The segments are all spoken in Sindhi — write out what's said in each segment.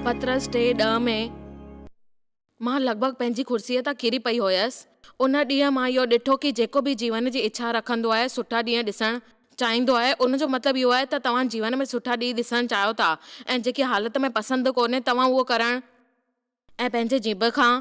پطرس ٽي ڏهه ۾، مان لڳ ڀڳ پنهنجي ڪرسيء تان ڪري پئي هيس. ان ڏينهن مان اهو ڏٺو ڪي جيڪو به جيون جي اڇا رکندو آهي، سٺا ڏينهن ڏسڻ چاهيندو آهي، ان جو مطلب اهو آهي ته توهان جيون ۾ سٺا ڏينهن ڏسڻ چاهيو ٿا ۽ جيڪي حالت ۾ پسند ڪونهي توهان اهو ڪرڻ ۽ پنهنجي جيڀ کان.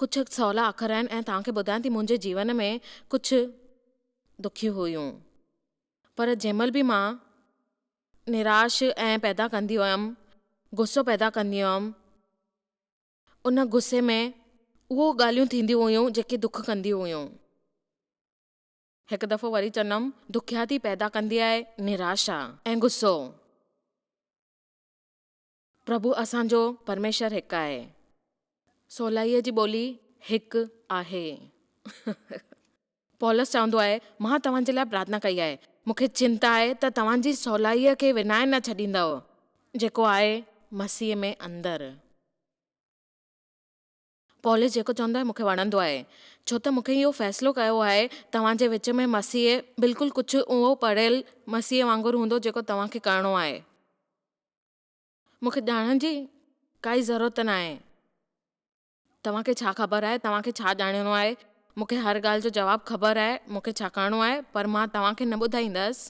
ڪجهه سولا اکر آهن ۽ توهان کي ٻڌايان ٿي منهنجي جيون ۾ ڪجهه دکيون هيون پر جنهن مهل به مان نراش ۽ پيدا ڪندي هيم غصو پيدا ڪندي هيم ان غصي ۾ اهو ڳالهيون ٿينديون هيون جيڪي دک ڪنديون هيون هڪ دفعو وري چندم دکياتي پيدا ڪندي آهي نراشا ۽ غصو. پرڀو اسان جو پرميشور هڪ آهي. سولائيء جي ٻولي هڪ آهي. پولس چوندو آهي، مان توهان جي لاء پرارٿنا ڪئي آهي. مون کي چنتا آهي ته توهان جي سولائيء کي ونائي نه ڇڏيندؤ، جيڪو آهي مسيح ۾ اندر. پولس جيڪو چوندو آهي مون کي وڻندو آهي، ڇو ته مون کي اهو فيصلو ڪيو آهي، توهان جي وچ ۾ مسيح بلڪل ڪجهه اهو پڙهيل مسيح وانگر هوندو جيڪو توهان کي ڪرڻو آهي. مون کي ڄاڻڻ جي ڪائي ضرورت ناهي. توهان کي ڇا خبر آهي توهان کي ڇا ڄاڻڻو آهي؟ مون کي هر ڳالهه جو جواب خبر آهي مون کي ڇا ڪرڻو آهي پر مان توهان کي نه ٻڌائيندس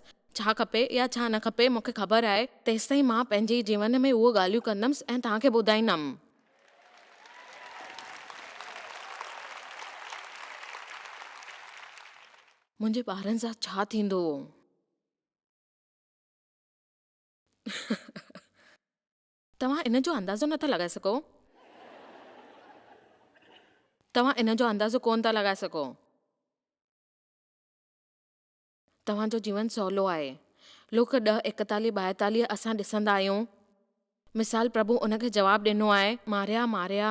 ڇا کپي يا ڇا نه کپي مون کي خبر آهي تيستائين مان پنهنجي جيون ۾ اهو ڳالهيون ڪندمس ۽ توهان کي ٻڌائيندم. منهنجي ٻارن سان ڇا ٿيندو؟ توهان ان جو اندازو نٿا لڳائي سگهو. توهان ان جو اندازو ڪونه ٿا لڳائي سگهو. توهان جو جيون سولو آهي. لوڪ ڏهه ايڪتاليهه ٻائيتاليهه اسان ڏسندا آهيون. مثال پرڀو ان کي جواب ڏنو آهي، ماريا، ماريا.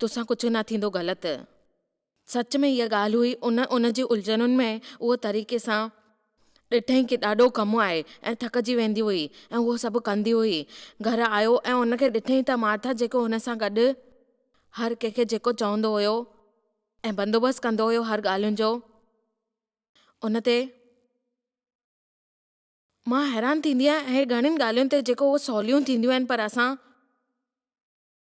توسان ڪجهه نه ٿيندو غلط. سچ ۾ اها ڳالهه هئي ان ان جي الجهنن ۾ اهو طريقي سان ڏٺئين ڪي ڏاڍو ڪم آهي ۽ ٿڪجي ويندي هئي ۽ اهو سڀ ڪندي هئي گهر آيو ۽ ان کي ڏٺئين ته مارٿا جيڪو هن سان گڏ هر ڪنهن کي جيڪو چوندو هيو ۽ بندوبست ڪندو هيو هر ڳالهين جو ان تي مان حيران ٿيندي آهيان اهي گهڻين ڳالهين تي جيڪو اهو سوليون ٿينديون آهن پر اسان.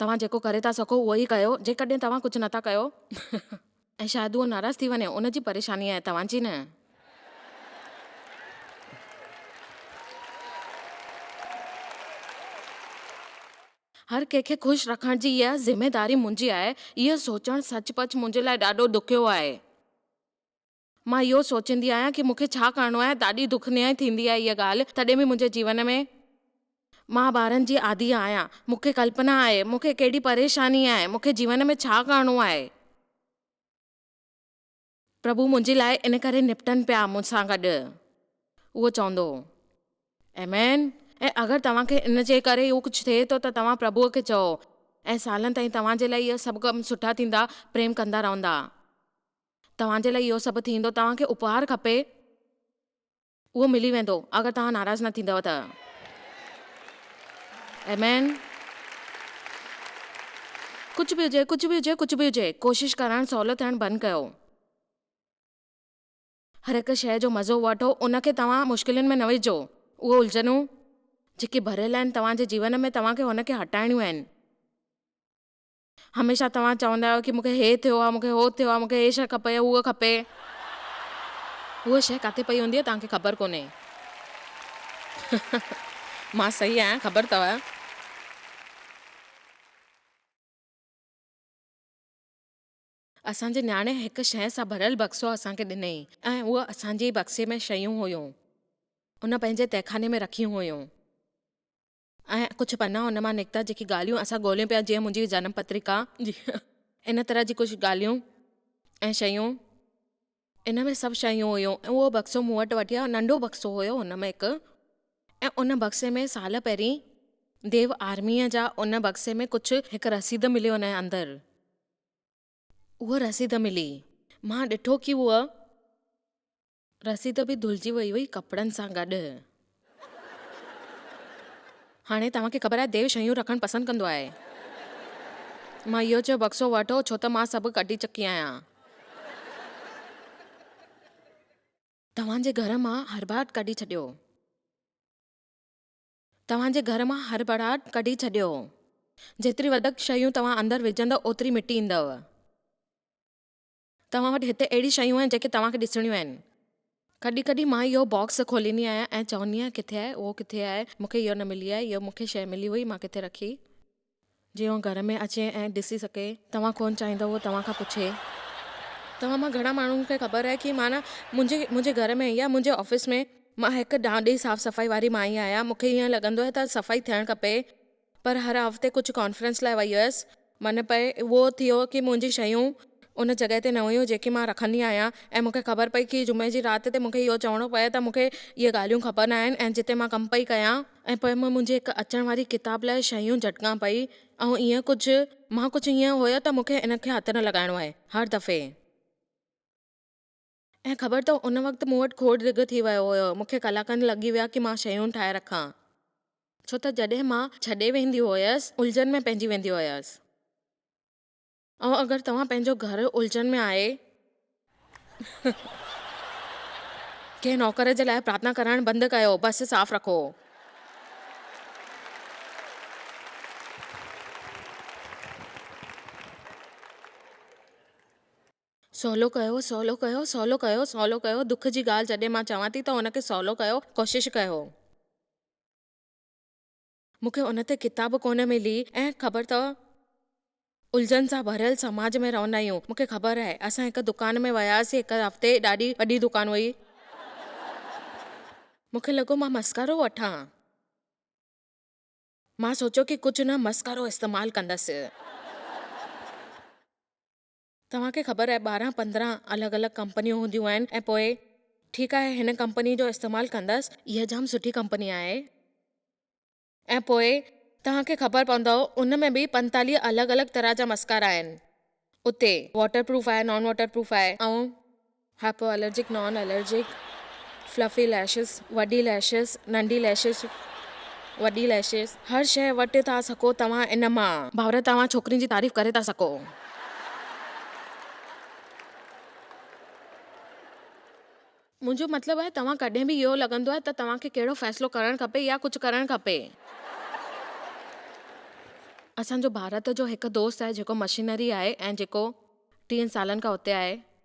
توهان جيڪو ڪري ٿا سگهو اهو ئي ڪيو، جيڪڏهن توهان ڪجهه نه ٿا ڪيو. ۽ شايد اهو ناراض ٿي وڃي، ان جي پريشاني آهي، توهان جي نه. هر ڪنهن کي خوش رکڻ جي اها ذميداري منهنجي آهي، اهو سوچڻ سچ پچ منهنجي لاء ڏاڍو ڏکيو آهي. مان اهو سوچيندي آهيان ڪي مون کي ڇا ڪرڻو آهي ڏاڍي دک نهائي ٿيندي آهي اها ڳالهه تڏهن به منهنجي جيون ۾ مان ٻارن جي عادي آهيان مون کي ڪلپنا آهي مون کي ڪهڙي پريشاني آهي مون کي جيون ۾ ڇا ڪرڻو آهي. پرڀو منهنجي لاء ان ڪري نپٽن پيا مون سان گڏ اهو چوندو هو آمين ۽ اگر توهان کي ان جي ڪري اهو ڪجهه ٿئي ٿو ته توهان پرڀو کي چئو ۽ سالن تائين توهان جي لاء اهي سڀ ڪم سٺا ٿيندا پريم ڪندا رهندا. توهان جي لاء اهو سڀ ٿيندو، توهان کي اپهار کپي، اهو ملي ويندو، اگر توهان ناراض نه ٿيندؤ ته. آمين. ڪجهه به هجي، ڪجهه به هجي، ڪجهه به هجي، ڪوشش ڪرڻ سولو ٿيڻ بند ڪيو. هر هڪ شيء جو مزو وٺو، ان کي توهان مشڪلين ۾ نه وجهو. اهي الجهنون، جيڪي ڀريل آهن توهان جي جيون ۾، توهان کي هن کي هٽائڻيون آهن. هميشه توهان چوندا آهيو ڪي مون کي هي ٿيو آهي مون کي هو ٿيو آهي مون کي هي شئي کپي هو کپي هو شئي ڪاٿي پئي هوندي آهي توهان کي خبر ڪونهي مان صحيح آهيان خبر ٿوء. اسان جي نياڻي هڪ شئي سان ڀريل بڪسو اسان کي ڏنئي ۽ اهو اسان جي ئي بڪسي ۾ شيون هيون ان پنهنجي تهخاني ۾ رکيون هيون. ۽ ڪجهه پنا ان مان نڪتا جيڪي ڳالهيون اسان ڳولهيون پيا جيئن منهنجي جنم پترڪا جيئن ان طرح جي ڪجهه ڳالهيون ۽ شيون ان ۾ سڀ شيون هيون ۽ اهو بڪسو مون وٽ وٺي آيو ننڍو بڪسو هيو هن ۾ هڪ ۽ ان بڪسي ۾ سال پهرين ديو آرميء جا ان بڪسي ۾ ڪجهه هڪ رسيد ملي ان اندر اها رسيد ملي مان ڏٺو ڪي هوء رسيد به ڌلجي وئي هئي ڪپڙن سان گڏ. هاڻي توهان کي خبر آهي ديو شيون رکڻ پسند ڪندو آهي. مان اهو چيو بڪسو وٺو ڇو ته مان سڀ ڪڍي چڪي آهيان. توهان جي گهر مان هرٻاٽ ڪڍي ڇڏيو. توهان جي گهر مان هرٻاٽ ڪڍي ڇڏيو. جيتري وڌيڪ شيون توهان اندر وجهندؤ اوتري مٽي ايندؤ. توهان وٽ هتي اهڙي شيون آهن جيڪي توهان کي ڏسڻيون آهن. ڪڏهن ڪڏهن مان اهو باڪس کوليندي آهيان ۽ چوندي آهيان ڪٿي آهي اهو ڪٿي آهي مون کي اهو نه ملي آهي اهو مون کي شيء ملي هئي مان ڪٿي رکي. جيئن هو گهر ۾ اچي ۽ ڏسي سگهي. توهان ڪونه چاهيندا هو توهان کان پڇي. توهان مان گهڻا ماڻهن کي خبر آهي ڪي معنيٰ منهنجي منهنجي گهر ۾ يا منهنجي آفيس ۾ مان هڪ ڏانڏي صاف صفائي واري مائي آهيان مون کي ائين لڳندو آهي ته صفائي ٿيڻ کپي. پر هر هفتي ڪجهه ڪانفرنس لاء وئي هيس. من پئي اهو ٿيو ڪي منهنجي شيون ان جڳهه تي نه هيون جيڪي مان رکندي آهيان ۽ مونکي خبر پئي ڪي جمعي جي رات تي مونکي اهو چوڻو پئي ته مونکي اهي ڳالهيون کپن آهن ۽ جتي مان ڪم پئي ڪيان ۽ پوء مان منهنجي هڪ اچڻ واري ڪتاب لاء شيون جهٽڪان پئي ۽ ائين ڪجهه مان ڪجهه ائين هيو ته مونکي ان کي هٿ نه لڳائڻو آهي هر دفعي ۽ خبر اٿو ان وقت مون وٽ کوڙ ڊگهه ٿي ويو هيو، مون کي ڪلاڪن لڳي ويا ڪي مان شيون ٺاهي رکان. ڇو ته جڏهن مان ڇڏي ويندي هيس الجهن ۾ پئجي ويندي هيس. ۽ اگر توهان پنهنجو گهر الجهن ۾ آهي ته ڪنهن نوڪر جي لاء پرارٿنا ڪرڻ بند ڪيو بس صاف رکو. سولو ڪيو، سولو ڪيو، سولو ڪيو، سولو ڪيو، دک جي ڳالهه جڏهن مان چوان ٿي ته ان کي سولو ڪيو، ڪوشش ڪيو. مون کي ان تي ڪتاب ڪونه ملي ۽ خبر اٿو الجهن سان ڀريل سماج ۾ رهندا آهيون، مون کي خبر آهي. اسان هڪ دڪان ۾ وياسين هڪ هفتي ڏاڍي وڏي دڪان هئي. مون کي لڳو مان مسخرو وٺان. مان سوچيو ڪي ڪجهه نه مسخرو استعمال ڪندس. توهان کي خبر آهي ٻارهن پندرهن الڳ الڳ ڪمپنيون هونديون آهن ۽ پوء ٺيڪ آهي هن ڪمپني جو استعمال ڪندس اها جام سٺي ڪمپني آهي ۽ پوء توهان کي خبر پوندؤ ان ۾ به پنتاليهه الڳ الڳ طرح جا مسڪارا آهن اتي واٽر پروف آهي نان واٽر پروف آهي ۽ hypo allergic, non allergic, fluffy lashes, وڏي ليشز، ننڍي ليشز، وڏي ليشز، هر شيء وٽ ٿا سکو توهان ان مان. ڀاور توهان ڇوڪرين جي تعريف ڪري ٿا سکو. منهنجو مطلب آهي توهان ڪڏهن به اهو لڳندو آهي ته توهان کي ڪهڙو فيصلو ڪرڻ کپي يا ڪجهه ڪرڻ کپي. اسان جو ڀارت جو هڪ دوست آهي جيڪو مشينري آهي ۽ جيڪو ٽيهن سالن کان اتي آهي.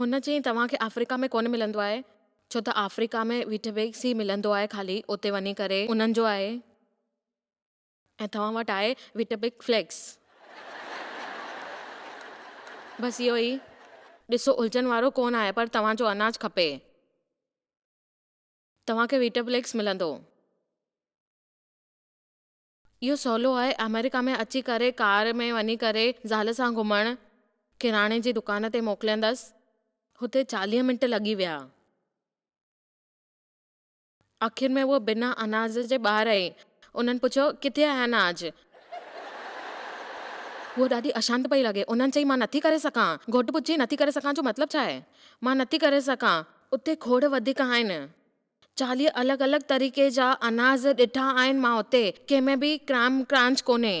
هن چيائين توهان کي آفريڪا ۾ ڪونه ملندو آهي ڇو ته آفريڪا ۾ ويٽ ويڪس ئي ملندو آهي خالي اتي وڃي ڪري انهن جو آهي ۽ توهان وٽ آهي ويٽ بيڪ فليڪس بس اهو ئي ڏسو الجهن وارو ڪونه آهي پر توهان جو اناج کپي توهان کي ويٽ بليڪس ملندو. اهو سولو آهي آمريڪا ۾ اچي ڪري ڪار ۾ وڃي ڪري زال سان گهمڻ. ڪراڻي جي دڪان تي موڪليندس. هتي چاليهه منٽ لڳي ويا. آخر ۾ هوء بنا اناج جي ٻاهر آئي. انهن پڇيو، ڪٿي آهي اناج؟ هوء ڏاڍي اشانت پئي لڳي. انهن چئي، مان نٿي ڪري سگهان. گهوٽ پڇي، نٿي ڪري سگهان جو مطلب ڇا آهي؟ مان نٿي ڪري سگهان. اتي کوڙ وڌيڪ آهن. چاليهه الڳ الڳ طريقي جا اناز ڏٺا آهن مان اتي. ڪنهن ۾ به ڪرائم ڪرانچ ڪونهي.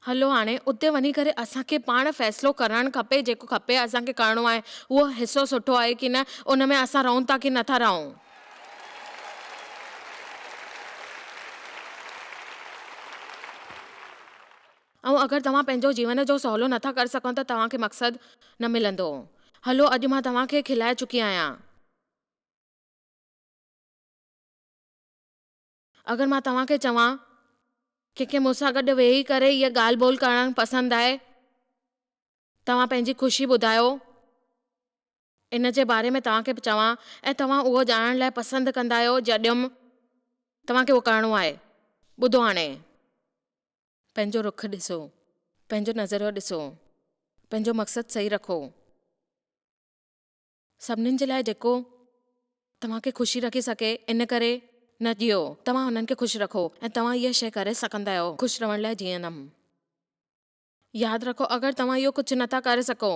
هلو هاڻي اتي وڃي ڪري اسان کي پاڻ فيصلو ڪرڻ کپي جيڪو کپي اسان کي ڪرڻو آهي اهو حصو سٺو آهي ڪي نه ان ۾ اسان رهون ٿا ڪي نٿا رهون. ۽ اگر توهان پنهنجو جيون جو سولو نه ٿا ڪري سگهو ته توهان کي مقصد نه ملندو. هلو اڄ مان توهان کي کلائي چڪي آهيان. اگر مان توهان کي چوان. ڪنهن کي مون سان گڏ ويهي ڪري هيء ڳالهه ٻولهه ڪرڻ پسند آهي. توهان پنهنجي خوشي ٻڌايو. ان جي باري ۾ توهان کي چوان ۽ توهان اهو ڄاڻڻ لاء پسند ڪندا آهيو جڏھم. توهان کي اهو ڪرڻو آهي. ٻڌو هاڻي. پنهنجو رخ ڏسو. پنهنجو نظريو ڏسو. پنهنجو مقصد صحيح رکو. سڀنين جي لاء جيڪو توهان کي خوشي رکي سگهي ان ڪري نه جيئو. توهان انهن کي خوش رکو ۽ توهان اها شيء ڪري سگهندا آهيو، خوش رهڻ لاء جيئندم. ياد رکو اگر توهان اهو ڪجهه نٿا ڪري سگهو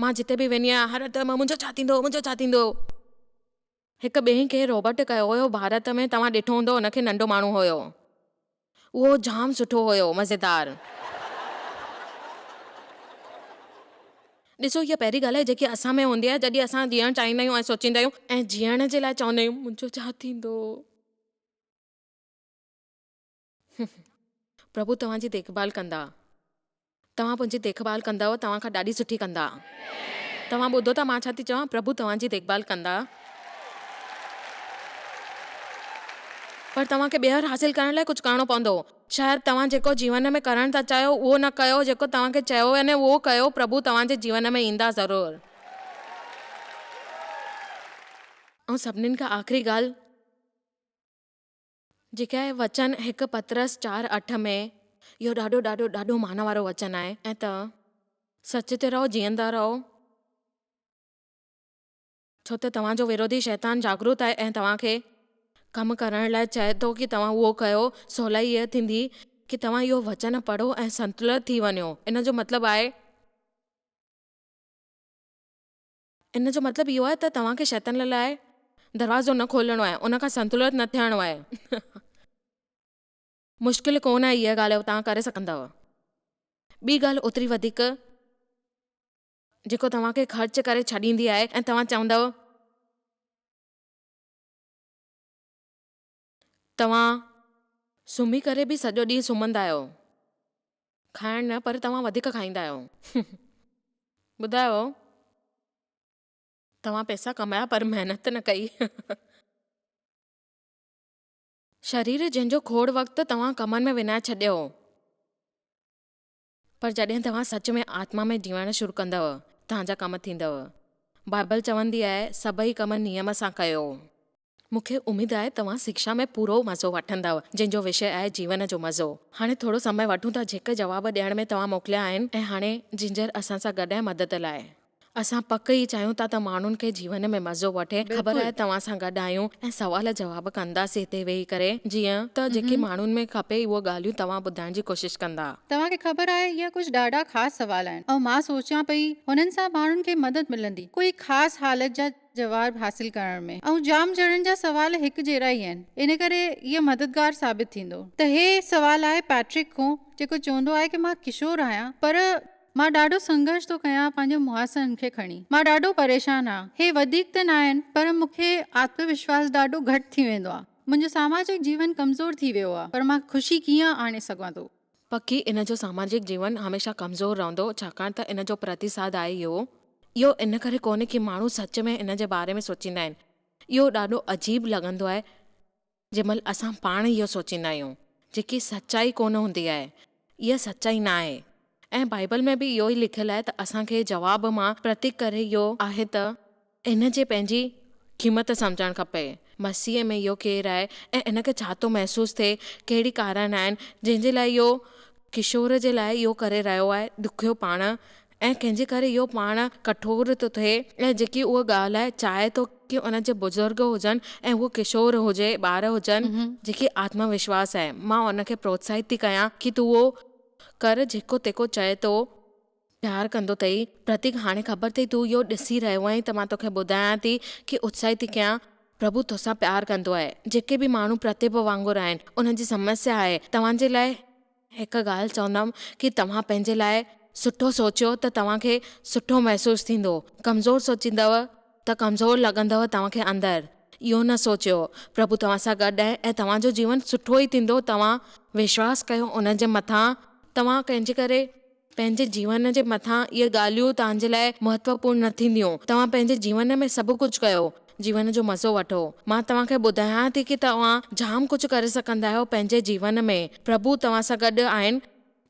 مان جتي به ويندي آهيان هر هنڌ منهنجو ڇا ٿيندو منهنجو ڇا ٿيندو. هڪ ٻئي کي روبرٽ ڪيو هيو ڀارت ۾ توهان ڏٺو هوندو ان کي ننڍو ماڻهو هيو اهو جام سٺو هيو مزيدار. ڏسو هيء پهرين ڳالهه آهي جيڪي اسان ۾ هوندي آهي جڏهن اسان جيئڻ چاهيندا آهيون ۽ سوچيندا آهيون ۽ جيئڻ جي لاء چوندا آهيون منهنجو ڇا ٿيندو. پرڀو توهان جي ديکڀال ڪندا. توهان منهنجي ديکڀال ڪندؤ، توهان کان ڏاڍي سٺي ڪندا. توهان ٻڌو ٿا مان ڇا ٿي چوان، پرڀو توهان جي ديکڀال ڪندا. پر توهان کي ٻيهر حاصل ڪرڻ لاء ڪجهه ڪرڻو پوندو. شايد توهان جيڪو جيون ۾ ڪرڻ ٿا چاهيو اهو نه ڪيو، جيڪو توهان کي چيو وڃي اهو ڪيو، پرڀو توهان جي جيون ۾ ايندا ضرور. ۽ سڀني کان آخري ڳالهه. جيڪي وچن هڪ پطرس چار اٺ ۾ اهو ڏاڍو ڏاڍو ڏاڍو مان وارو وچن آهي ۽ ته سچ تي رهو جيئندا رهو ڇو ته توهان جو وروڌي شيطان جاگروت آهي ۽ توهان کي ڪم ڪرڻ لاء چئي ٿو ڪي توهان اهو ڪيو سولائي هيء ٿيندي ڪي توهان اهو وچن پڙهو ۽ سنتلت ٿي وڃو ان جو مطلب آهي ان جو مطلب اهو آهي ته توهان کي شيطان لاء دروازو نه کولڻو آهي، ان کان سنتلت نه ٿيڻو آهي. مشڪل ڪونه آهي اها ڳالهه توهان ڪري سگهندؤ. ٻي ڳالهه اوتري وڌيڪ جيڪو توهان کي خرچ ڪري ڇڏيندي آهي ۽ توهان چوندؤ. توهان سمهي ڪري به سڄو ڏينهن سمهندا آهيو. کائڻ نه پر توهان وڌيڪ کائيندا آهيو. ٻڌايو توهان پئسا ڪمايا پر محنت نه ڪئي. شرير جنهن جو کوڙ وقت توهان ڪمن ۾ وڃائي ڇڏيو. پر جڏهن توهان سچ ۾ آتما ۾ جيئڻ شروع ڪندؤ، توهان جا ڪم ٿيندؤ. بائبل چوندي آهي، سڀئي ڪم نيم سان ڪيو. مون کي اميد آهي توهان سکيا ۾ پورو مزو وٺندؤ، جنهن جو وشي آهي جيون جو مزو. هاڻي ٿورو سمئي وٺون ٿا جيڪي جواب ڏيڻ ۾ توهان موڪليا آهن ۽ هاڻي جنجر اسان سان گڏ آهي مدد لاء. اسان پڪ ئي چاهيون ٿا ته ماڻهن کي جيون ۾ مزو وٺي خبر آهي توهان سان گڏ آهيون ۽ سوال جواب ڪنداسين هتي ويهي ڪري جيئن ته جيڪي ماڻهن ۾ کپي اهو ڳالهيون توهان ٻڌائڻ جي ڪوشش ڪندا. توهان کي خبر آهي اهي ڪجهه ڏاڍا خاص سوال آهن ۽ مان سوچيان پئي هنن سان ماڻهن کي مدد ملندي ڪوئي خاص حالت جا جواب حاصل ڪرڻ ۾ ۽ جام ڄڻن جا سوال هڪ جهڙا ئي آهن ان ڪري اهي مددگار ثابت ٿيندو ته هي سوال آهي پيٽرڪ کون جيڪو چوندو آهي ته مان ڪشور آهيان پر مان ڏاڍو سنگهرش ٿو ڪيان پنهنجو محاسن کي کڻي. مان ڏاڍو پريشان آهيان. هي وڌيڪ ته ناهن پر مون کي آتم وشواس ڏاڍو گهٽ ٿي ويندو آهي. منهنجو ساماجڪ جيون ڪمزور ٿي ويو آهي پر مان خوشي ڪيئن آڻي سگهان ٿو. پکي ان جو ساماجڪ جيون هميشه ڪمزور رهندو ڇاڪاڻ ته ان جو پرتيساڌ آهي اهو. اهو ان ڪري ڪونهي ڪي ماڻهو سچ ۾ ان جي باري ۾ سوچيندا آهن. اهو ڏاڍو عجيب لڳندو آهي. جنهن مهل اسان پاڻ اهو سوچيندا آهيون، جيڪي سچائي ڪونه هوندي آهي، اها سچائي نه آهي. ۽ بائيبل ۾ به اهو ئي لکيل آهي ته اسان کي جواب مان پرتڪ ڪري اهو آهي ته. ان جي پنهنجي قيمت سمجهڻ کپي. مسيح ۾ اهو ڪير آهي ۽ ان کي ڇا ٿو محسوس ٿئي، ڪهڙي ڪارڻ آهن جنهن جي لاء اهو ڪشور جي لاء اهو ڪري رهيو آهي، ڏکيو پاڻ ۽ ڪنهن جي ڪري اهو پاڻ ڪٺور ٿو ٿئي ۽ جيڪي اهو ڳالهائي چاهي ٿو ڪي ان جي بزرگ هجن ۽ هو ڪشور هجي ٻار هجن جيڪي آتم وشواس آهي مان ان کي پروتساهت ٿي ڪيان ڪي تون اهو ڪر جيڪو تيکو چئي ٿو. پيار ڪندو اٿئي پرتيڪ هاڻي خبر اٿئي تون اهو ڏسي رهيو آهين ته مان توکي ٻڌايان ٿي ڪي اتساهت ٿي ڪيان پرڀو توسان پيار ڪندو آهي جيڪي به ماڻهو پرتيپ وانگر آهن انهن جي سمسيا آهي توهان جي لاء هڪ ڳالهه چوندم ڪي توهان پنهنجي لاء سٺو سوچيو ته توهان کي سٺو محسوس ٿيندو ڪمزور سوچيندؤ ته ڪمزور لڳندؤ توهان کي اندر اهو نه سوچيو پرڀو توهان سان گڏ آهي ۽ توهان جو جيون سٺو ئي ٿيندو توهان وشواس ڪيو ان جي مٿان توهان ڪنهن جي ڪري پنهنجي جيون جي مٿان اهي ڳالهيون توهان جي لاء مهتوپورن نه ٿينديون. توهان پنهنجي جيون ۾ سڀ ڪجهه ڪيو. جيون جو مزو وٺو. مان توهان کي ٻڌايان ٿي ڪي توهان جام ڪجهه ڪري سگهندا آهيو پنهنجي جيون ۾. پرڀو توهان سان گڏ آهن.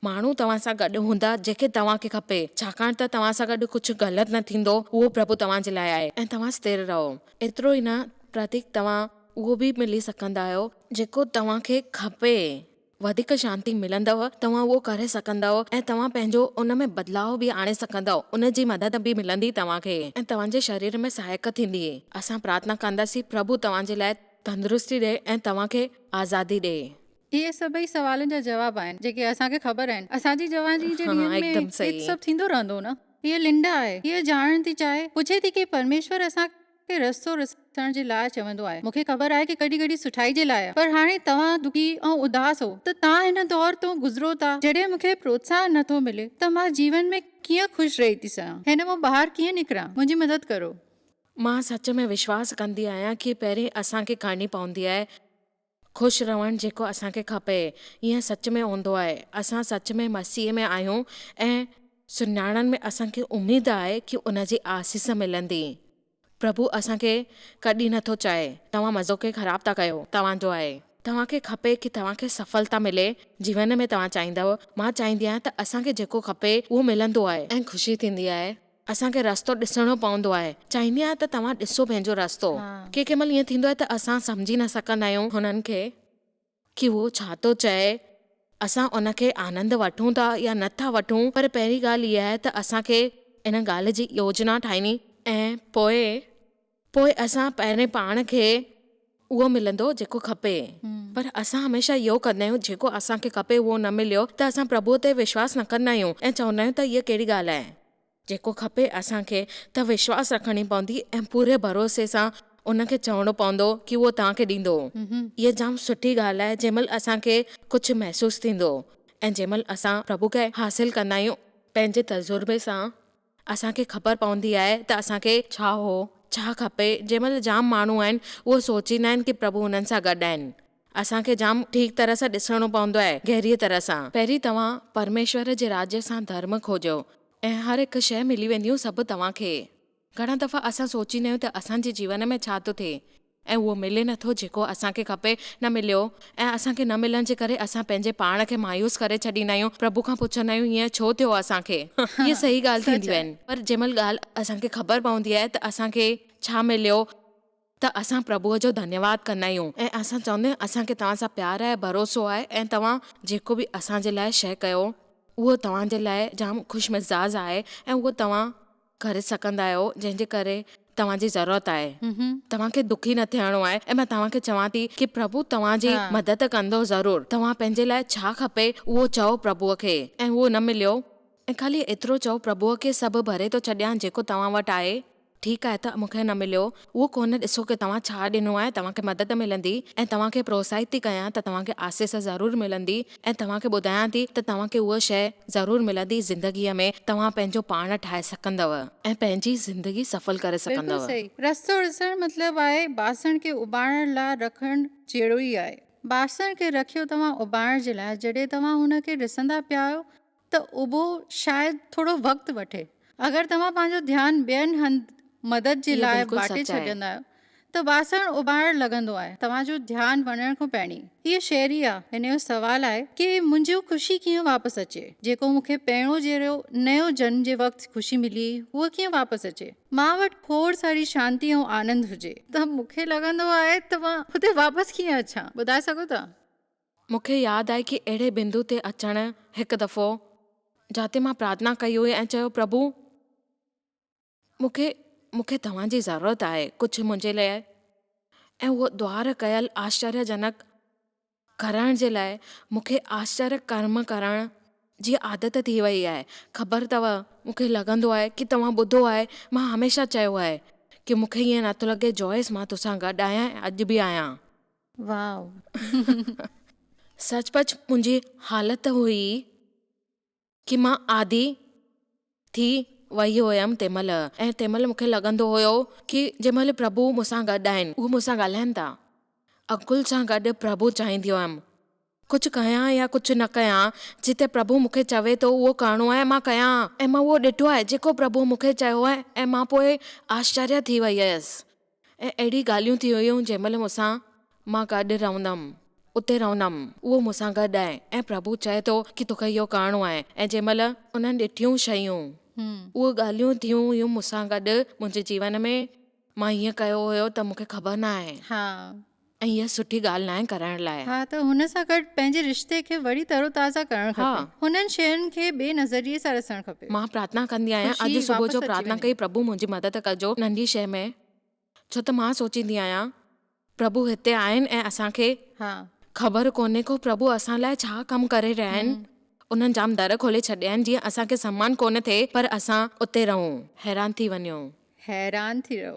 ماڻهو توهان سان گڏ هوندا جيڪي توهان کي کپي. ڇاڪاڻ ته توهان سان گڏ ڪجهه غلط نه ٿيندو. اهو پرڀو توهان جي لاء آهي ۽ توهان ستر رهو. ايترو ئي نه پرتيڪ توهان اهو به ملي سگهندا آهيو. جيڪو توهان کي کپي. وڌيڪ شانتي ملندؤ، توهان اهو ڪري سگهندؤ ۽ توهان پنهنجو ان ۾ بدلاء به آڻي سگهندؤ، ان جي مدد به ملندي توهان کي ۽ توهان جي شرير ۾ سهائڪ ٿيندي. اسان پرارٿنا ڪنداسين پرڀو توهان جي لاء تندرستي ڏئي ۽ توهان کي آزادي ڏئي. اهي سڀئي سوالن جا جواب آهن جيڪي اسان کي خبر آهن. اسان جي جواني جي ڏينهن ۾ هي ته سڀ ٿيندو رهندو نه؟ هيء لنڊا آهي. هيء ڄاڻڻ ٿي چاهي، پڇي ٿي ڪي پرميشور اسان کي. کي رستو رسڻ جي لاء چوندو آهي. مون کي خبر آهي ته ڪڏهن ڪڏهن سٺائي جي لاء پر هاڻي توهان دکي ۽ اداس هو ته توهان هن دور تون گذرو ٿا جڏهن مون کي پروتساهن نه ٿو ملي ته مان جيون ۾ ڪيئن خوش رهي ٿي سگهان هن مان ٻاهر ڪيئن نڪران منهنجي مدد ڪرو. مان سچ ۾ وشواس ڪندي آهيان ڪي پهرين اسان کي ڪرڻي پوندي آهي. خوش رهڻ جيڪو اسان کي کپي. ايئن سچ ۾ هوندو آهي. اسان سچ ۾ مسيح ۾ آهيون ۽ سڃاڻڻ ۾ اسان کي اميد آهي ڪي ان جي آسيس ملندي. پرڀو اسان کي ڪڏهن نه ٿو چاهي توهان مزو کي خراب ٿا ڪيو توهان جو آهي. توهان کي کپي ڪي توهان کي سڦلتا ملي جيون ۾ توهان چاهيندؤ مان چاهيندي آهيان ته اسان کي جيڪو کپي اهو ملندو آهي ۽ خوشي ٿيندي آهي. اسان کي رستو ڏسڻو پوندو آهي. چاهيندي آهيان ته توهان ڏسو پنهنجو رستو. ڪي ڪي مهل ائين ٿيندو آهي ته اسان سمجهي نه سگهندا آهيون هنن کي ڪي هو ڇا ٿو چئي. اسان ان کي آنند وٺون ٿا يا نه ٿا وٺون پر پهرين ڳالهه اها آهي ته اسان کي ان ڳالهه جي يوجنا ٺاهڻي ۽ پوء پوء اسان پهرين پاڻ کي اهو ملندو جيڪو کپي. پر اسان هميشه اهو ڪندا آهيون جيڪو اسان کي کپي اهو نه مليو ته اسان پرڀوء تي وشواس نه ڪندا آهيون ۽ چوندا آهيون ته هيء ڪهڙي ڳالهه آهي. جيڪو کپي اسان کي ته وشواس رکڻ ئي پوندي ۽ پوري ڀروسي سان ان کي چوڻو پوندو ڪي اهو توهان کي ڏيندو. هيء جام سٺي ڳالهه آهي جنهن مهل اسان کي ڪجهه محسوس ٿيندو ۽ جنهن مهل اسان پرڀوء کي حاصل ڪندا آهيون. پنهنجي تجربي سان اسان کي خبر پوندي آهي ته اسان کي ڇا هو ڇا کپي جنهن مهل جام ماڻهو آهن اهو سوچيندا آهن ڪي پرڀو انهن سان گڏ آهن اسان کي جام ٺيڪ طرح سان ڏسڻو پوندو آهي گهريء طرح سان. پهرين توهان پرميشور جي راجي سان ڌرم کوجو ۽ هر هڪ شيء ملي وينديون سڀ توهان کي. گهڻا دفعا اسان سوچيندا آهيون ته اسان جي جيون ۾ ڇا ٿو ٿئي ۽ اهو ملي نه ٿو جيڪو اسان کي کپي، نه مليو، ۽ اسان کي نه ملڻ جي ڪري اسان پنهنجي پاڻ کي مايوس ڪري ڇڏيندا آهيون، پرڀو کان پڇندا آهيون هيئن ڇو ٿيو اسان کي؟ اهي صحيح ڳالهه سچ ٿينديون آهي. آهن، پر جنهن مهل ڳالهه اسان کي خبر پوندي آهي ته اسان کي ڇا مليو ته اسان پرڀوء جو ڌنيواد ڪندا آهيون ۽ اسان چوندا آهيون اسان کي توهان سان پيار آهي، ڀروسو آهي ۽ توهان جيڪو به اسان جي لاء شيء ڪيو اهو توهان جي لاء جام خوش مزاج آهي ۽ اهو توهان. ڪري سگهندا آهيو جنهن جي ڪري توهان جي ضرورت آهي توهان کي دکي نه ٿيڻو آهي ۽ مان توهان کي چوان ٿي ڪي پرڀو توهان جي مدد ڪندو ضرور توهان پنهنجي لاء ڇا کپي اهو چئو پرڀو کي ۽ اهو نه مليو ۽ خالي ايترو چئو پرڀو کي سڀ ڀري ٿو ڇڏيان جيڪو توهان وٽ آهي ٺيڪ آهي ته مون کي نه مليو اهو ڪونه ڏسو ڪه توهان ڇا ڏنو آهي، توهان کي مدد ملندي ۽ توهان کي پروتساهت ٿي ڪيان ته توهان کي آسيس ضرور ملندي ۽ توهان کي ٻڌايان ٿي ته توهان کي اها شيء ضرور ملندي زندگيء ۾ توهان پنهنجو پاڻ ٺاهي سگهندؤ ۽ پنهنجي زندگي سڦل ڪري بلڪل سگهندؤ. صحيح رستو ڏسڻ مطلب آهي باسڻ کي اٻاڻڻ لا رکڻ جهڙو ئي آهي باسڻ کي رکيو توهان اٻاڻڻ جي لاء جڏهن توهان هن کي ڏسندا پيا آهيو ته اهو شايد ٿورو وقت وٺي. اگر توهان پنهنجو ڌيان ٻين هنڌ مدد جي لاء واٽي ڇڏيندا آهيو ته واسڻ اٻاڙڻ لڳندو آهي. توهان جو ڌيان وڃڻ کان پهرين هيء شيري آ. هن جو سوال آهي ڪي منهنجو خوشي کيئن واپس اچي. جيڪو مون کي پهريون جهڙو نيو جنم جي وقت خوشي ملي هئي هوء کيئن واپس اچي. مان وٽ کوڙ ساري شانتي ۽ آنند هجي. ته مون کي لڳندو آهي ته مان هتي واپس ڪيئن اچان. ٻڌائي سگهو ٿا. مون کي ياد آهي ڪي اهڙي بندو تي اچڻ هڪ دفعو جاتي مان پرارٿنا ڪئي هئي ۽ چيو پرڀو مون کي مون کي توهان جي ضرورت آهي ڪجهه منهنجي لاء ۽ اهو دوار ڪيل آشچريه جنڪ ڪرڻ جي لاء مون کي آشچريه ڪرم ڪرڻ جي عادت ٿي وئي آهي خبر اٿو مون کي لڳندو آهي ڪي توهان ٻڌو آهي مان هميشه چيو آهي ڪي مون کي ائين نٿو لڳي جويس مان توسان گڏ آهيان ۽ اڄ به آهيان. واء سچ پچ منهنجي حالت هئي ڪي مان عادي ٿي وئي هئم تنهن مهل ۽ تنهن مهل مونکي لڳندو هيو ڪي جنهن مهل پرڀو مون سان گڏ آهن اهي مون سان ڳالهائن ٿا انڪل سان گڏ پرڀو چاهيندي هئم ڪجهه ڪيان يا ڪجهه نه ڪيان، جتي پرڀو مون کي چوي ٿو اهو ڪرڻو آهي مان ڪيان. ۽ مان اهو ڏٺو آهي جيڪو پرڀو مون کي چيو آهي ۽ مان پوء آشچريه ٿي وئي هيس ۽ اهڙي ڳالهيون ٿي هيون جنهن مهل مون سان مان گڏ رهندم اتي رهندم اهو مون سان گڏ آهي ۽ پرڀو چئي ٿو ڪي توکي اهو ڪرڻو آهي ۽ جنهن مهل انهن ڏٺيون شيون اهي ڳالهيون ٿيون هيون مون سان گڏ منهنجي جيون ۾ مان هيئن ڪيو هيو ته مون کي خبر ناهي. ۽ اها سٺي ڳالهه ناهي ڪرائڻ لاء. ها ته هن سان گڏ پنهنجي رشتي کي وري تر و تازه ڪرڻ ها. کپي. هنن شين کي ٻئي نظريي سان ڏسڻ کپي. مان پرارٿنا ڪندي آهيان خوشي اڄ صبح واپس جو اچي پرارٿنا وڃي. ڪئي پرڀو منهنجي مدد ڪجو ننڍي شيء ۾. ڇو ته مان سوچيندي آهيان. پرڀو هتي آهن ۽ اسان کي. ها. خبر ڪونهي ڪو پرڀو اسان لاء ڇا ڪم ڪري رهيا آهن. هم. انهن جام در کولي ڇڏيا آهن جيئن اسان کي سنمان ڪونه ٿئي پر اسان اتي رهون. حيران ٿي وڃو. حيران ٿي رهو.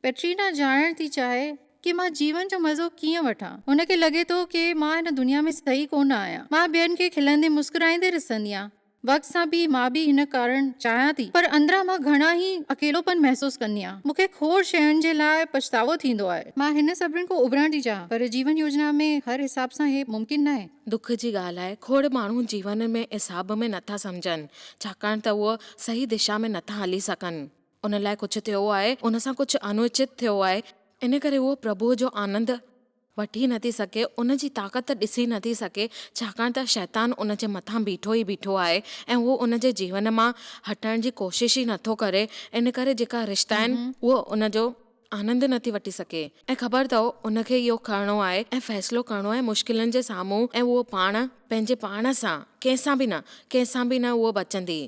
ڪئٽرينا ڄاڻڻ ٿي چاهي ڪي مان جيون جو مزو ڪيئن وٺان. هن کي لڳي ٿو ڪي مان هن دنيا ۾ صحيح ڪونه آهيان. مان ٻين کي کلندي مسڪرائيندي ڏسنديان. وقت سان به مان به هن ڪارڻ چاهيان ٿي پر اندران مان گهڻا ئي اڪيلوپن محسوس ڪنديان. مون کي کوڙ شين جي لاء پڇتاوو ٿيندو آهي. مان هن سڀن کان اڀرڻ ٿي چاهيان پر جيون يوجنا ۾ هر حساب سان هي ممڪن ناهي. دک جي ڳالهه آهي کوڙ ماڻهو جيون ۾ حساب ۾ نٿا سمجهن ڇاڪاڻ ته اهي صحيح دشا ۾ نٿا هلي سگهن. ان لاء ڪجهه ٿيو آهي، ان سان ڪجهه انوچت ٿيو آهي، ان ڪري هوء پرڀوء جو آنند وٺي نٿي سگهي، ان جي طاقت ڏسي نٿي سگهي، ڇاڪاڻ ته شيطان ان جي مٿان بيٺو ئي بيٺو آهي ۽ هو ان جي جيون مان هٽڻ جي ڪوشش ئي نٿو ڪري، ان ڪري جيڪا رشتا آهن، هوء ان جو آنند نٿي وٺي سگهي ۽ خبر اٿئو ان کي اهو کڻڻو آهي ۽ فيصلو ڪرڻو آهي مشڪلن جي سامهون ۽ هوء پاڻ، پنهنجي پاڻ سان، ڪنهن سان به نه، ڪنهن سان به نه هوء بچندي.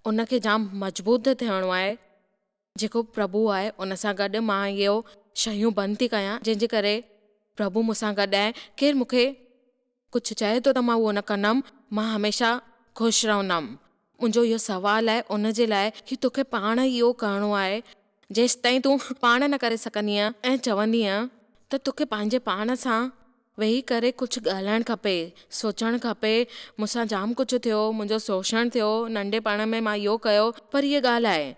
ان کي جام مضبوط ٿيڻو آهي جيڪو پرڀو آهي ان سان گڏ مان اهو شيون بند ٿي ڪيان جنهن جي ڪري پرڀو مون سان گڏ آهي ڪير مون کي ڪجهه چئي ٿو ته مان اهو نه ڪندم مان هميشه خوش رهندم منهنجو اهو سوال آهي ان جي لاء هي توکي پاڻ اهو ڪرڻو آهي جيستائين تون پاڻ نه ڪري سگهندينء ۽ چوندينء ته توکي پنهنجي پاڻ سان ويهي ڪري ڪجهه ڳالهائڻ کپي، سوچڻ کپي، مون سان جام ڪجهه ٿيو، منهنجو سوشڻ ٿيو، ننڍپڻ ۾ مان اهو ڪيو، پر هيء ڳالهه آهي.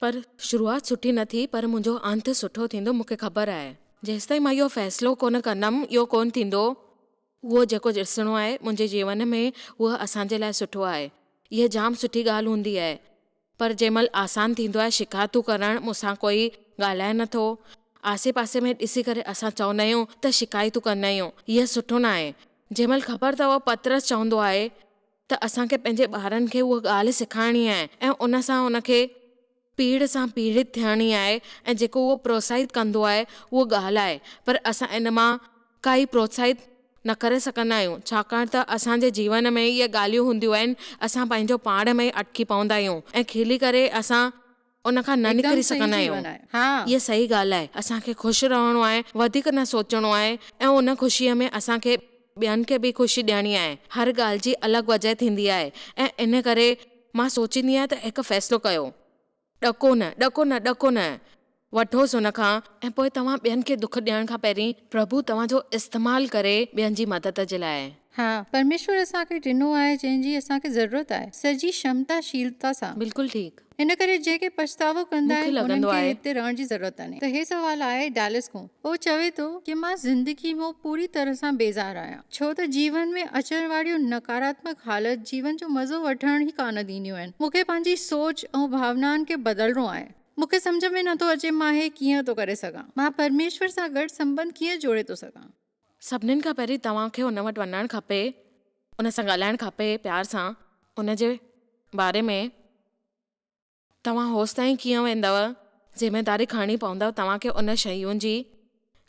پر شروعات سٺي نه ٿي، پر منهنجو انت سٺو ٿيندو، مون کي خبر آهي. جيستائين مان اهو فيصلو ڪونه ڪندم، اهو ڪونه ٿيندو. اهو جيڪو ڏسڻو آهي منهنجي جيون ۾، اهو اسان جي لاء سٺو آهي. اها جام سٺي ڳالهه هوندي آهي. پر جنهن مهل آسان ٿيندو آهي شڪايتون ڪرڻ مون سان ڪوئي ڳالهائي نه ٿو. آسي پاسي ۾ ڏسي ڪري اسان چوندا آهيون ته شڪايتون ڪندا آهيون هيء سٺو نه آهي. جنهن مهل خبر اٿئو پطرس چوندو آهي ته اسان کي پنهنجي ٻارن کي اها ڳالهه سکائڻي آهي ۽ ان سان ان کي پيڙهه سان پيڙهيت ٿيڻي آهي ۽ جيڪو اهو پروتساهت ڪندو آهي اهو ڳالهه آهي پر اسان ان مان کائي پروتساهت نه ڪري سگهندا آهيون ڇاڪاڻ ته اسان جي جيون ۾ اهي ڳالهيون هونديون آهن اسان پنهنجو پاڻ ۾ ئي اٽڪي پوندا آهيون ۽ کلي ڪري اسان ان کان نه نڪري سگهندا آهيون اها صحيح ڳالهه آهي اسان کي خوش رهڻو آهي وڌيڪ نه سوچڻو آهي ۽ ان خوشي ۾ اسان کي ٻين کي به خوشي ڏيڻي آهي هر ڳالهه جي الڳ وجهه ٿيندي آهي ۽ ان ڪري مان سوچيندي آهيان ته هڪ فيصلو ڪيو ڏکو نه، ڏکو نه، ڏکو نه. وٺوس هن کان ۽ پوء توهان ٻين کي دک ڏيڻ کان پهرين پرڀو توهان جو استعمال ڪري ٻين جي مدد جي لاء. ها، پرميشور اسان کي ڏنو آهي جنهن جي اسان کي ضرورت آهي، سڄي شمتا شيلتا سان. بلڪل ٺيڪ. ان ڪري جنهن کي پڇتاوو ڪندا مون کي آهن انهن لڳندو کي آهي. هتي رهڻ جي ضرورت آهي. ته هي سوال آهي ڊالس کون. هو چوي ٿو ڪي مان زندگي مون پوري طرح سان بيزار آهيان. ڇو ته جيون ۾ اچڻ واريون نڪاراتمڪ حالت جيون جو مزو وٺڻ ئي ڪانه ڏينديون آهن. مون کي پنهنجي سوچ ۽ ڀاونائن کي بدلڻو آهي. مون کي سمجهه ۾ نٿو اچي مان هي ڪيئن ٿو ڪري سگهان. مان پرميشور سان گڏ سنٻنڌ ڪيئن جوڙي ٿو سگهان. سڀنين کان پهرين توهان کي هن وٽ وڃڻ کپي، هن سان ڳالهائڻ کپي پيار سان، هن جي باري ۾. توهان هوستائين ڪيئن ويندؤ؟ ذميداري کڻڻي پوندؤ توهان کي ان شيون جي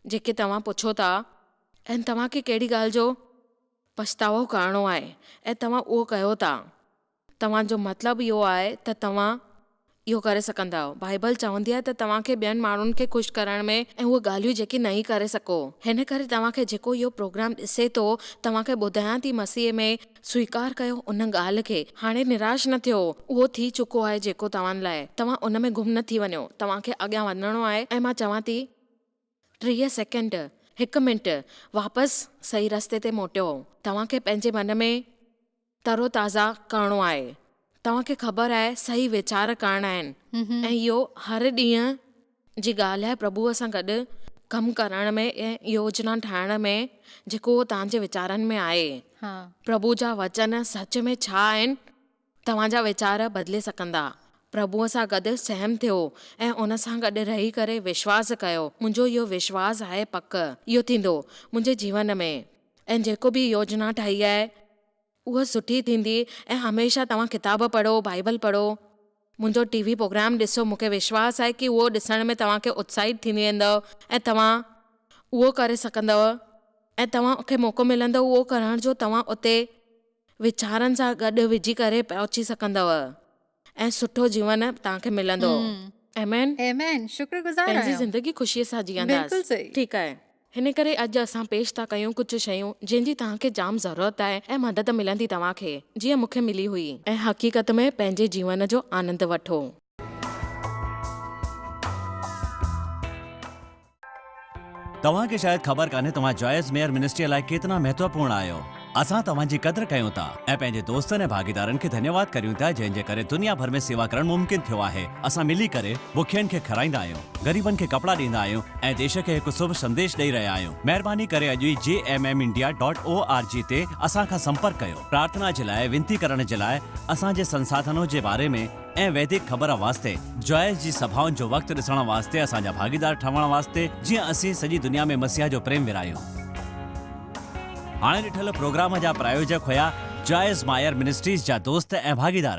جيڪي توهان پڇو ٿا ۽ توهان کي ڪهڙي ڳالهه جو پڇتاوو ڪرڻو آهي ۽ توهان اهو ڪيو ٿا. توهان جو مطلب اهو آهي ته توهان اهو ڪري سگهندؤ. بائيبل چوندي آهي ته توهان کي ٻين ماڻهن کي خوش ڪرڻ ۾ ۽ اهي ڳالهيون جيڪي نهين ڪري سگهو. هن ڪري توهان کي جيڪو اهو پروگرام ڏسي ٿو توهان کي ٻڌايان ٿي مسيح ۾، سويڪار ڪيو ان ڳالهه کي. هاڻي نراش نه ٿيو. اهو ٿي چڪو آهي جيڪو توهان لاء. توهان ان ۾ گم نه ٿي وڃو. توهان کي اڳيان وڌڻو آهي ۽ مان چوان ٿي. ٽيهه سيڪنڊ، هڪ منٽ، واپس صحيح رستي تي موٽيو. توهان کي پنهنجي من ۾ تروتازه ڪرڻو آهي. توهان کي خبر آهي صحيح ويچار ڪرڻا آهن ۽ اهو هر ڏينهن جي ڳالهه آهي پرڀوء سان گڏ ڪم ڪرڻ ۾ ۽ يوجنا ٺاهڻ ۾ جيڪو اهو توهان جي ويچارن ۾ آهي پرڀوء جا وچن سچ ۾ ڇا آهن توهان جا ويچار بدلي سگهندا پرڀوء سان گڏ سهم ٿيو ۽ ان سان گڏ رهي ڪري وشواس ڪيو منهنجو اهو وشواس آهي پڪ اهو ٿيندو منهنجي جيون ۾ ۽ جيڪو به يوجنا ٺاهي آهي اها سٺي ٿيندي ۽ هميشه توهان ڪتاب پڙهو، بائيبل پڙهو. منهنجو ٽي وي پروگرام ڏسو، مونکي وشواس آهي ڪي اهو ڏسڻ ۾ توهان کي اتساهت ٿيندي ويندو ۽ توهان اهو ڪري سگهندؤ ۽ توهان کي موقعو ملندو اهو ڪرڻ جو توهان اتي ويچارن سان گڏ وجهي ڪري پهچي سگهندؤ. ۽ سٺو جيون توهان کي ملندو. آمين. آمين شڪر گذار پنهنجي آهيان. زندگي خوشيء سان جيئنداس. بلڪل صحيح. ٺيڪ آهي. هن ڪري اڄ اسان پيش ٿا ڪيون ڪجهه شيون جنهن جي توهان کي جام ضرورت آهي ۽ مدد ملندي توهان کي جيئن مون کي ملي هئي. ۽ حقيقت ۾ پنهنجي جيون جو آنند وٺو. توهان کي شايد خبر ڪانهي توهان جائز ميئر منسٽريء لاء ڪيترا مهتوپورڻ آهيو. اسان توهان جي قدر ڪيون ٿا ۽ پنهنجي دوستن ۽ ڀاڳيدارن کي ڌنيواد ڪريون ٿا جنهن جي ڪري دنيا ڀر ۾ سيوا ڪرڻ ممڪن ٿيو آهي. اسان ملي ڪري بکين کي کارائيندا آهيون، غريبن کي ڪپڙا ڏيندا آهيون ۽ ديش کي هڪ سڀ سنديش ڏئي رهيا آهيون. مهرباني ڪري اڄ ئي G M M India dot O R G تي اسان کان سمپرڪ ڪيو. پرارٿنا جي لاء، وينتي ڪرڻ جي لاء، اسان جي سنساڌنو جي باري ۾، ۽ ويدڪ خبر واسطي، جوائس جي سڀائن جو وقت ڏسڻ واسطي اسان جا ڀاڳيدار ٺهڻ واسطي جيئن اسين سڄي دنيا ۾ مسيح جو پريم ورهايون. هاڻي ڏٺل پروگرام جا پرايوجڪ هيا جوائس مائر منسٽريز جا دوست ۽ ڀاڳيدار.